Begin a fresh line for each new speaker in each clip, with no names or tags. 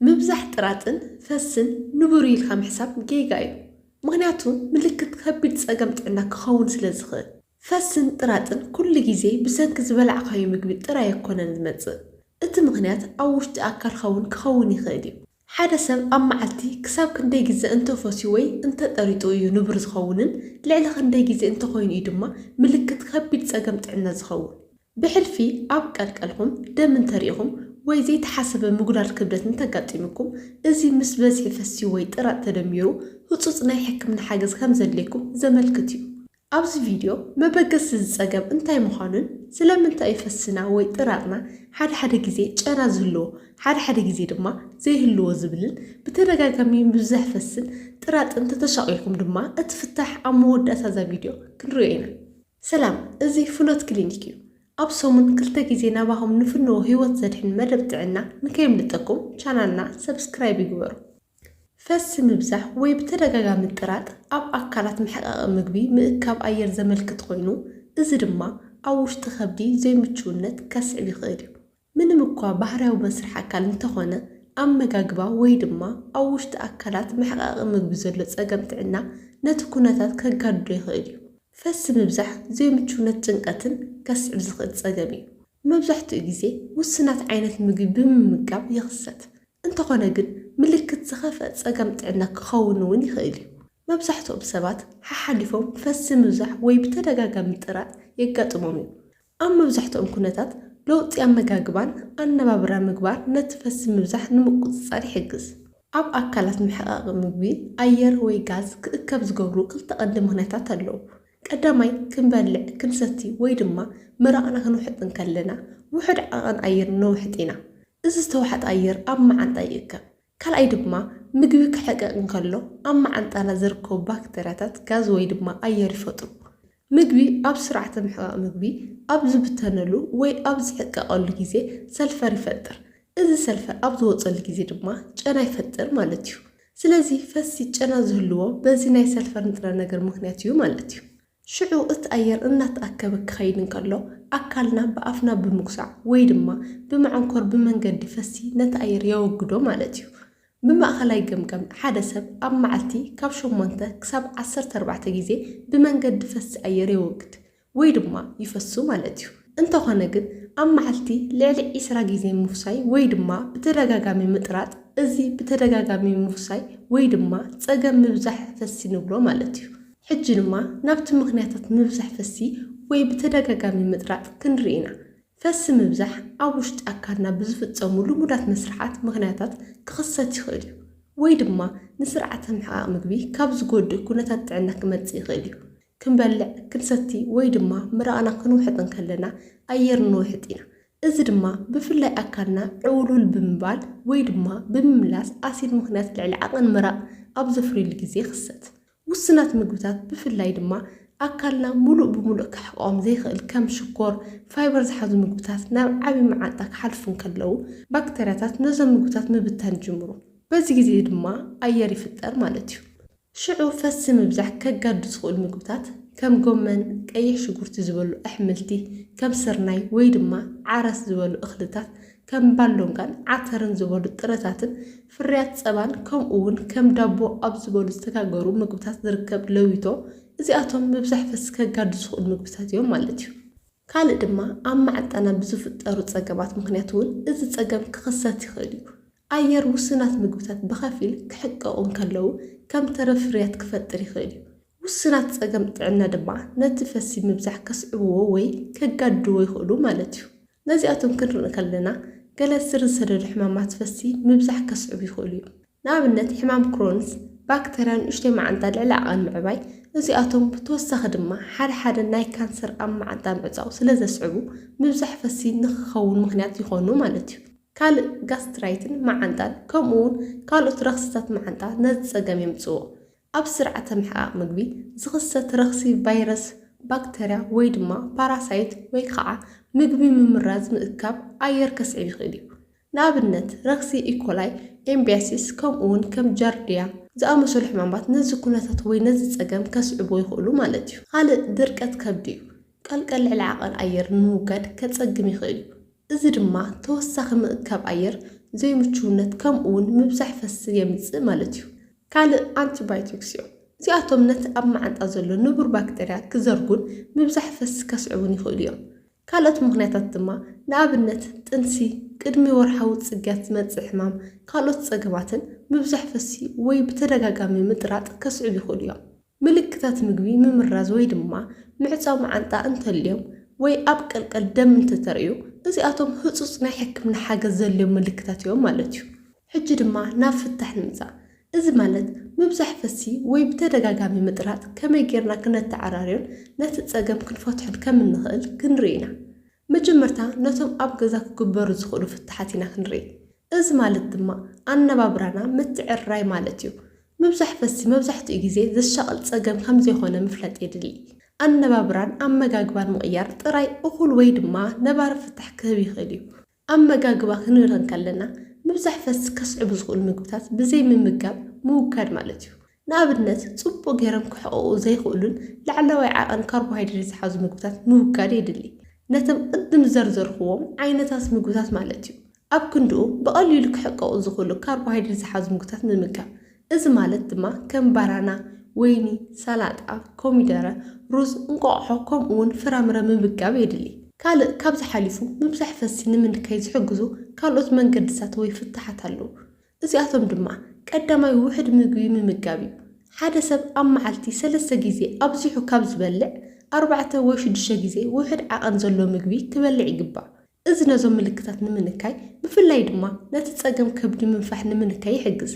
ምብዛሕ ጥራጥን ፈስን ንቡር'ዩ ኢልካ ምሕሳብ ጌጋ'ዩ፣ ምኽንያቱ ምልክት ከቢድ ጸገም ጥዕና ክኸውን ስለ ዝኽእል። ፈስን ጥራጥን ኩሉ ግዜ ብሰንኪ ዝበላዕካዮ ምግቢ ጥራይ ኣይኮነን ዝመጽእ፣ እቲ ምኽንያት ኣብ ውሽጢ ኣካልካ'ውን ክኸውን ይኽእል'ዩ። ሓደ ሰብ ኣብ መዓልቲ ክሳብ ክንደይ ግዘ እንተ ፈስዩ ወይ እንተ ጠሪጡ እዩ ንቡር ዝኸውንን ልዕሊ ክንደይ ግዜ እንተኾይኑ'ዩ ድማ ምልክት ከቢድ ጸገም ጥዕና ዝኸውን? ብሕልፊ ኣብ ቀልቀልኩም ደም እንተሪኢኹም ወይ ዘይተሓሰበ ምጉዳል ክብደት እንተጋጢሙኩም፣ እዚ ምስ በዝሒ ፈስዩ ወይ ጥራጥ ተደሚሩ ህጹጽ ናይ ሕክምና ሓገዝ ከምዘድልየኩም ዘመልክት እዩ። ኣብዚ ቪድዮ መበገሲ እዚ ጸገም እንታይ ምዃኑን ስለምንታይ እዩ ፈስና ወይ ጥራጥና ሓደ ሓደ ግዜ ጨና ዝህልዎ ሓደ ሓደ ግዜ ድማ ዘይህልዎ ዝብልን ብተደጋጋሚ ምብዛሕ ፈስን ጥራጥን ተተሻቒልኩም ድማ እቲ ፍታሕ ኣብ መወዳእታ እዛ ቪድዮ ክንሪኦ ኢና። ሰላም እዚ ፍኖት ክሊኒክ እዩ ኣብ ሰሙን ክልተ ግዜ ናባኹም ንፍንዎ ሂወት ዘድሕን መደብ ጥዕና ንከየምልጠኩም ቻናልና ሰብስክራይብ ይግበሩ ፈሲ ምብዛሕ ወይ ብተደጋጋሚ ጥራጥ ኣብ ኣካላት መሕቀቂ ምግቢ ምእካብ ኣየር ዘመልክት ኮይኑ እዚ ድማ ኣብ ውሽጢ ከብዲ ዘይምቹውነት ከስዕብ ይኽእል እዩ ምንም እኳ ባህርያዊ መስርሕ ኣካል እንተኾነ፣ ኣመጋግባ ወይ ድማ ኣብ ውሽጢ ኣካላት መሕቐቒ ምግቢ ዘሎ ጸገም ጥዕና ነቲ ኩነታት ከጋድዶ ይኽእል እዩ። ፈሲ ምብዛሕ ዘይምቹውነት ጭንቐትን ከስዕብ ዝኽእል ጸገም እዩ። መብዛሕትኡ ግዜ ውሱናት ዓይነት ምግቢ ብምምጋብ ይኽሰት፣ እንተኾነ ግን ምልክት ዝኸፍኣ ጸገም ጥዕና ክኸውን እውን ይኽእል እዩ። መብዛሕትኦም ሰባት ሓሓሊፎም ፈሲ ምብዛሕ ወይ ብተደጋጋሚ ጥራጥ የጋጥሞም እዩ። ኣብ መብዛሕትኦም ኩነታት፣ ለውጢ ኣመጋግባን ኣነባብራ ምግባር ነቲ ፈስቲ ምብዛሕ ንምቁጽጻር ይሕግዝ። ኣብ ኣካላት መሕቐቒ ምግቢ፣ ኣየር ወይ ጋዝ ክእከብ ዝገብሩ ክልተ ቀንዲ ምኽንያታት ኣለዉ። ቀዳማይ፣ ክንበልዕ፣ ክንሰቲ ወይ ድማ ምራቕና ክንውሕጥ እንከለና፣ ውሑድ ዓቐን ኣየር ነውሕጥ ኢና። እዚ ዝተዋሕጠ ኣየር ኣብ መዓንጣ ይእከብ። ካልኣይ ድማ ምግቢ ክሕቀቕ እንከሎ ኣብ መዓንጣና ዝርከቡ ባክተርያታት ጋዝ ወይ ድማ ኣየር ይፈጥሩ። ምግቢ ኣብ ስርዓተ ምሕቓቕ ምግቢ ኣብ ዝብተነሉ ወይ ኣብ ዝሕቀቐሉ ግዜ ሰልፈር ይፈጥር። እዚ ሰልፈር ኣብ ዝወጸሉ ግዜ ድማ ጨና ይፈጥር ማለት እዩ። ስለዚ ፈስሲ ጨና ዝህልዎ በዚ ናይ ሰልፈር ንጥረ ነገር ምክንያት እዩ ማለት እዩ። ሽዑ እቲ ኣየር እናተኣከበ ክኸይድ እንከሎ፣ ኣካልና ብኣፍና ብምጉሳዕ ወይ ድማ ብመዐንኮር ብመንገዲ ፈሲ ነቲ ኣየር የወግዶ ማለት እዩ። ብማእኸላይ ገምገም ሓደ ሰብ ኣብ መዓልቲ ካብ ሸሞንተ ክሳብ ዓሰርተ ኣርባዕተ ግዜ ብመንገዲ ፈሲ ኣየር የወግድ ወይ ድማ ይፈሱ ማለት እዩ። እንተኾነ ግን ኣብ መዓልቲ ልዕሊ ዕስራ ግዜ ምፍሳይ ወይ ድማ ብተደጋጋሚ ምጥራጥ፣ እዚ ብተደጋጋሚ ምፍሳይ ወይ ድማ ፀገም ምብዛሕ ፈሲ ንብሎ ማለት እዩ። ሕጂ ድማ ናብቲ ምኽንያታት ምብዛሕ ፈሲ ወይ ብተደጋጋሚ ምጥራጥ ክንርኢ ኢና። ፈሲ ምብዛሕ ኣብ ውሽጢ ኣካልና ብዝፍጸሙ ልሙዳት መስርሓት ምኽንያታት ክኽሰት ይኽእል እዩ። ወይ ድማ ንስርዓተ ምሕቓቕ ምግቢ ካብ ዝጎድእ ኩነታት ጥዕና ክመጽእ ይኽእል እዩ። ክንበልዕ፣ ክንሰቲ ወይ ድማ ምራቕና ክንውሕጥ እንከለና ኣየር ንውሕጥ ኢና። እዚ ድማ ብፍላይ ኣካልና ዕውልውል ብምባል ወይ ድማ ብምምላስ ኣሲድ ምኽንያት ልዕሊ ዓቕን ምራቕ ኣብ ዘፍርዩሉ ግዜ ይኽሰት። ውሱናት ምግብታት ብፍላይ ድማ ኣካልና ምሉእ ብምሉእ ከሕቕቖም ዘይክእል ከም ሽኮር፣ ፋይበር ዝሓዙ ምግብታት ናብ ዓቢ መዓንጣ ክሓልፉ እንከለዉ፣ ባክተርያታት ነዞም ምግብታት ምብታን ይጅምሩ። በዚ ግዜ እዚ ድማ ኣየር ይፍጠር ማለት እዩ። ሽዑ ፈስሲ ምብዛሕ ከጋድዱ ዝኽእሉ ምግብታት ከም ጎመን፣ ቀይሕ ሽጉርቲ ዝበሉ ኣሕምልቲ ከም ስርናይ ወይ ድማ ዓረስ ዝበሉ እኽልታት ከም ባሎንጋን ዓተርን ዝበሉ ጥረታትን ፍርያት ጸባን ከምኡ ውን ከም ዳቦ ኣብ ዝበሉ ዝተጋገሩ ምግብታት ዝርከብ ለዊቶ እዚኣቶም ምብዛሕ ፈስሲ ከጋድዱ ዝኽእሉ ምግብታት እዮም ማለት እዩ። ካልእ ድማ ኣብ ማዕጠና ብዝፍጠሩ ጸገማት ምኽንያት ውን እዚ ጸገም ክኽሰት ይኽእል እዩ። ኣየር ውሱናት ምግብታት ብኸፊል ክሕቀቑ እንከለዉ ከም ተረፍ ፍርያት ክፈጥር ይኽእል እዩ። ውሱናት ጸገም ጥዕና ድማ ነቲ ፈሲ ምብዛሕ ከስዕብዎ ወይ ከጋድድዎ ይኽእሉ ማለት እዩ። ነዚኣቶም ክንርኢ ከለና ገለ ስር ዝሰደዱ ሕማማት ፈሲ ምብዛሕ ከስዕቡ ይኽእሉ እዮም። ንኣብነት ሕማም ክሮንስ፣ ባክተርያ ንኡሽተይ መዓንጣ ልዕሊ ዓቐን ምዕባይ፣ እዚኣቶም ብተወሳኺ ድማ ሓደ ሓደ ናይ ካንሰር ኣብ መዓንጣ ምዕጻው ስለ ዘስዕቡ ምብዛሕ ፈሲ ንኽኸውን ምኽንያት ይኾኑ ማለት እዩ። ካልእ ጋስትራይትን መዓንጣን ከምኡ'ውን ካልኦት ረኽሲታት መዓንጣ ነዚ ጸገም የምጽእዎ። ኣብ ስርዓተ ምሕቓቕ ምግቢ ዝኽሰት ረኽሲ ቫይረስ፣ ባክተርያ ወይ ድማ ፓራሳይት ወይ ኻዓ ምግቢ ምምራዝ ምእካብ ኣየር ከስዕብ ይኽእል እዩ። ንኣብነት ረኽሲ ኢኮላይ፣ ኤምቢያሲስ ከምኡ ውን ከም ጃርዲያ ዝኣመሰሉ ሕማማት ነዚ ኩነታት ወይ ነዚ ፀገም ከስዕቡ ይኽእሉ ማለት እዩ። ኻልእ ድርቀት ከብዲ እዩ። ቀልቀል ልዕሊ ዓቐን ኣየር ንምውጋድ ከጸግም ይኽእል እዩ፣ እዚ ድማ ተወሳኺ ምእካብ ኣየር፣ ዘይምቹውነት፣ ከምኡውን ምብዛሕ ፈስን የምጽእ ማለት እዩ። ካልእ ኣንቲባዮቲክስ እዮም። እዚኣቶም ነቲ ኣብ መዓንጣ ዘሎ ንቡር ባክተርያ ክዘርጉን ምብዛሕ ፈስ ከስዕቡን ይኽእሉ እዮም። ካልኦት ምኽንያታት ድማ ንኣብነት ጥንሲ፣ ቅድሚ ወርሓዊ ጽግያት ዝመጽእ ሕማም፣ ካልኦት ጸገማትን ምብዛሕ ፈስ ወይ ብተደጋጋሚ ምጥራጥ ከስዕቡ ይኽእሉ እዮም። ምልክታት ምግቢ ምምራዝ ወይ ድማ ምዕጻው መዓንጣ እንተልዮም ወይ ኣብ ቀልቀል ደም እንተተርእዩ፣ እዚኣቶም ህጹጽ ናይ ሕክምና ሓገዝ ዘድልዮም ምልክታት እዮም ማለት እዩ። ሕጂ ድማ ናብ ፍታሕ ንምጻእ። እዚ ማለት ምብዛሕ ፈስሲ ወይ ብተደጋጋሚ ምጥራጥ ከመይ ጌርና ክነተዓራርዮን ነቲ ጸገም ክንፈትሖን ከም እንኽእል ክንርኢ ኢና። መጀመርታ ነቶም ኣብ ገዛ ክግበሩ ዝኽእሉ ፍታሓት ኢና ክንርኢ። እዚ ማለት ድማ ኣነባብራና ምትዕርራይ ማለት እዩ። ምብዛሕ ፈሲ መብዛሕትኡ ግዜ ዘሻቕል ጸገም ከም ዘይኮነ ምፍላጥ የድሊ። ኣነባብራን ኣመጋግባን ምቕያር ጥራይ እኹል ወይ ድማ ነባሪ ፍታሕ ክህብ ይኽእል እዩ። ኣመጋግባ ክንብል እንከለና ምብዛሕ ፈሲ ከስዕቡ ዝኽእሉ ምግብታት ብዘይ ምምጋብ ምውጋድ ማለት እዩ። ንኣብነት፣ ጽቡቕ ገይሮም ክሕቕቑ ዘይክእሉን ላዕለዋይ ዓቐን ካርቦሃይድሬት ዝሓዙ ምግብታት ምውጋድ የድሊ። ነቶም ቅድም ዝዘርዘርኩዎም ዓይነታት ምግብታት ማለት'ዩ። ኣብ ክንድኡ፣ ብቐሊሉ ክሕቀቑ ዝኽእሉ ካርቦሃይድሬት ዝሓዙ ምግብታት ምምጋብ። እዚ ማለት ድማ ከም ባናና፣ ወይኒ፣ ሰላጣ፣ ኮሚደረ፣ ሩዝ፣ እንቋቑሖ ከምኡ'ውን ፍራምረ ምምጋብ የድሊ። ካልእ ካብዚ ሓሊፉ ምብዛሕ ፈስሲ ንምንካይ ዝሕግዙ ካልኦት መንገድታት ወይ ፍታሓት ኣለዉ። እዚኣቶም ድማ፣ ቀዳማይ ውሑድ ምግቢ ምምጋብ እዩ። ሓደ ሰብ ኣብ መዓልቲ ሰለስተ ግዜ ኣብዚሑ ካብ ዝበልዕ፣ ኣርባዕተ ወይ ሽዱሽተ ግዜ ውሑድ ዓቐን ዘሎ ምግቢ ክበልዕ ይግባእ። እዚ ነዞም ምልክታት ንምንካይ፣ ብፍላይ ድማ ነቲ ጸገም ከብዲ ምንፋሕ ንምንካይ ይሕግዝ።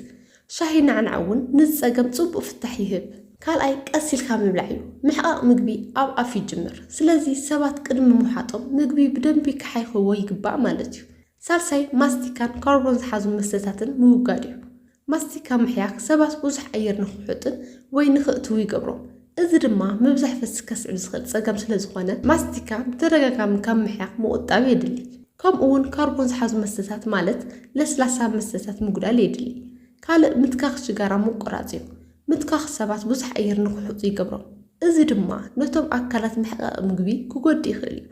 ሻሂ ናዕናዕ እውን ነዚ ጸገም ጽቡቕ ፍታሕ ይህብ። ካልኣይ ቀስ ኢልካ ምብላዕ እዩ። ምሕቓቕ ምግቢ ኣብ ኣፍ ይጅምር፣ ስለዚ ሰባት ቅድሚ ምውሓጦም ምግቢ ብደንቢ ክሓይኽዎ ይግባእ ማለት እዩ። ሳልሳይ፣ ማስቲካን ካርቦን ዝሓዙ መስተታትን ምውጋድ እዩ። ማስቲካ ምሕያኽ ሰባት ብዙሕ ኣየር ንኽውሕጡን ወይ ንኽእትዉ ይገብሮም፣ እዚ ድማ ምብዛሕ ፈስሲ ከስዕብ ዝኽእል ጸገም ስለዝኾነ ማስቲካ ብተደጋጋሚ ካብ ምሕያኽ ምቑጣብ የድሊ። ከምኡ'ውን ካርቦን ዝሓዙ መስተታት ማለት ለስላሳ መስተታት ምጉዳል የድሊ። ካልእ ምትካኽ ሽጋራ ምቁራጽ እዩ። ምትካኽ ሰባት ብዙሕ ኣየር ንኽውሕጡ ይገብሮም፣ እዚ ድማ ነቶም ኣካላት መሕቐቒ ምግቢ ክጎድእ ይኽእል እዩ።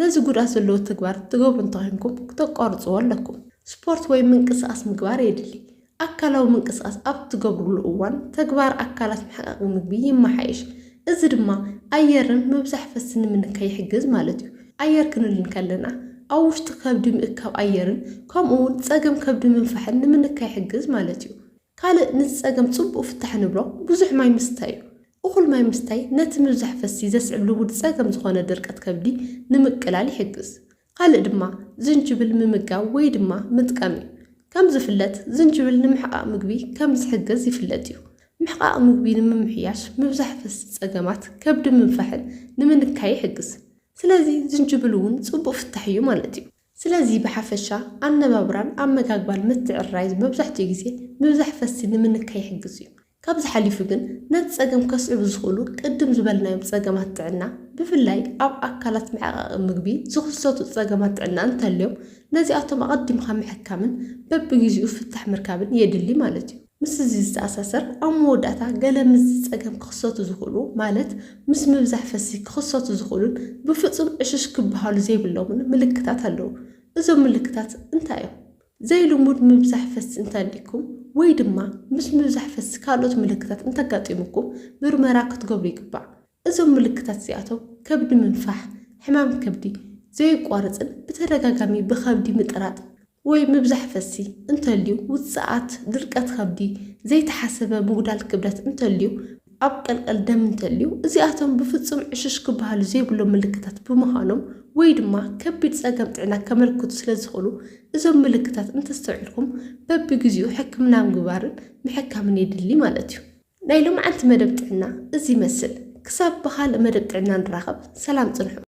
ነዚ ጉድኣት ዘለዎ ተግባር ትገብሩ እንተኾይንኩም ክተቋርጽዎ ኣለኩም። ስፖርት ወይ ምንቅስቓስ ምግባር የድሊ። ኣካላዊ ምንቅስቓስ ኣብ እትገብሩሉ እዋን ተግባር ኣካላት ምሕቃቕ ምግቢ ይመሓየሽ፣ እዚ ድማ ኣየርን ምብዛሕ ፈስን ንምንካይ ይሕግዝ ማለት እዩ። ኣየር ክንብል እንከለና ኣብ ውሽጢ ከብዲ ምእካብ ኣየርን ከምኡ'ውን ጸገም ከብዲ ምንፋሕን ንምንካይ ይሕግዝ ማለት እዩ። ካልእ ነዚ ጸገም ጽቡቕ ፍታሕ ንብሎ ብዙሕ ማይ ምስታይ እዩ። እኹል ማይ ምስታይ ነቲ ምብዛሕ ፈስሲ ዘስዕብ ልሙድ ጸገም ዝኾነ ድርቀት ከብዲ ንምቅላል ይሕግዝ። ካልእ ድማ ዝንጅብል ምምጋብ ወይ ድማ ምጥቃም እዩ። ከም ዝፍለጥ ዝንጅብል ንምሕቓቕ ምግቢ ከም ዝሕግዝ ይፍለጥ እዩ። ምሕቓቕ ምግቢ ንምምሕያሽ ምብዛሕ ፈስሲ ጸገማት ከብዲ ምንፋሕን ንምንካይ ይሕግዝ። ስለዚ ዝንጅብል እውን ጽቡቕ ፍታሕ እዩ ማለት እዩ። ስለዚ ብሓፈሻ ኣነባብራን ኣመጋግባን ምትዕርራይ መብዛሕትኡ ግዜ ምብዛሕ ፈስሲ ንምንካይ ይሕግዝ እዩ። ካብዚ ሓሊፉ ግን ነቲ ጸገም ከስዕቡ ዝኽእሉ ቅድም ዝበልናዮም ጸገማት ጥዕና ብፍላይ ኣብ ኣካላት መዕቐቒ ምግቢ ዝኽሰቱ ጸገማት ጥዕና እንተልዮም ነዚኣቶም ኣቐዲምካ ምሕካምን በብጊዚኡ ፍታሕ ምርካብን የድሊ ማለት እዩ። ምስዚ ዝተኣሳሰር ኣብ መወዳእታ ገለ ምስዚ ጸገም ክኽሰቱ ዝኽእሉ ማለት ምስ ምብዛሕ ፈስሲ ክኽሰቱ ዝኽእሉን ብፍጹም ዕሽሽ ክበሃሉ ዘይብሎምን ምልክታት ኣለዉ። እዞም ምልክታት እንታይ እዮም? ዘይልሙድ ምብዛሕ ፈሲ እንተኣልይኩም ወይ ድማ ምስ ምብዛሕ ፈሲ ካልኦት ምልክታት እንተጋጢሙኩም ምርመራ ክትገብሩ ይግባእ። እዞም ምልክታት እዚኣቶም ከብዲ ምንፋሕ፣ ሕማም ከብዲ፣ ዘዩቋርጽን ብተደጋጋሚ ብኸብዲ ምጥራጥ ወይ ምብዛሕ ፈሲ እንተልዩ፣ ውጽኣት ድርቀት ከብዲ፣ ዘይተሓሰበ ምጉዳል ክብደት እንተልዩ፣ ኣብ ቀልቀል ደም እንተልዩ፣ እዚኣቶም ብፍጹም ዕሽሽ ክበሃሉ ዘይብሎም ምልክታት ብምዃኖም ወይ ድማ ከቢድ ጸገም ጥዕና ከመልክቱ ስለዝኽእሉ እዞም ምልክታት እንተስተውዒልኩም በብግዜኡ ሕክምና ምግባርን ምሕካምን የድሊ ማለት እዩ። ናይ ሎምዓንቲ መደብ ጥዕና እዚ ይመስል። ክሳብ ብኻልእ መደብ ጥዕና ንራኸብ ሰላም ጽንሑ።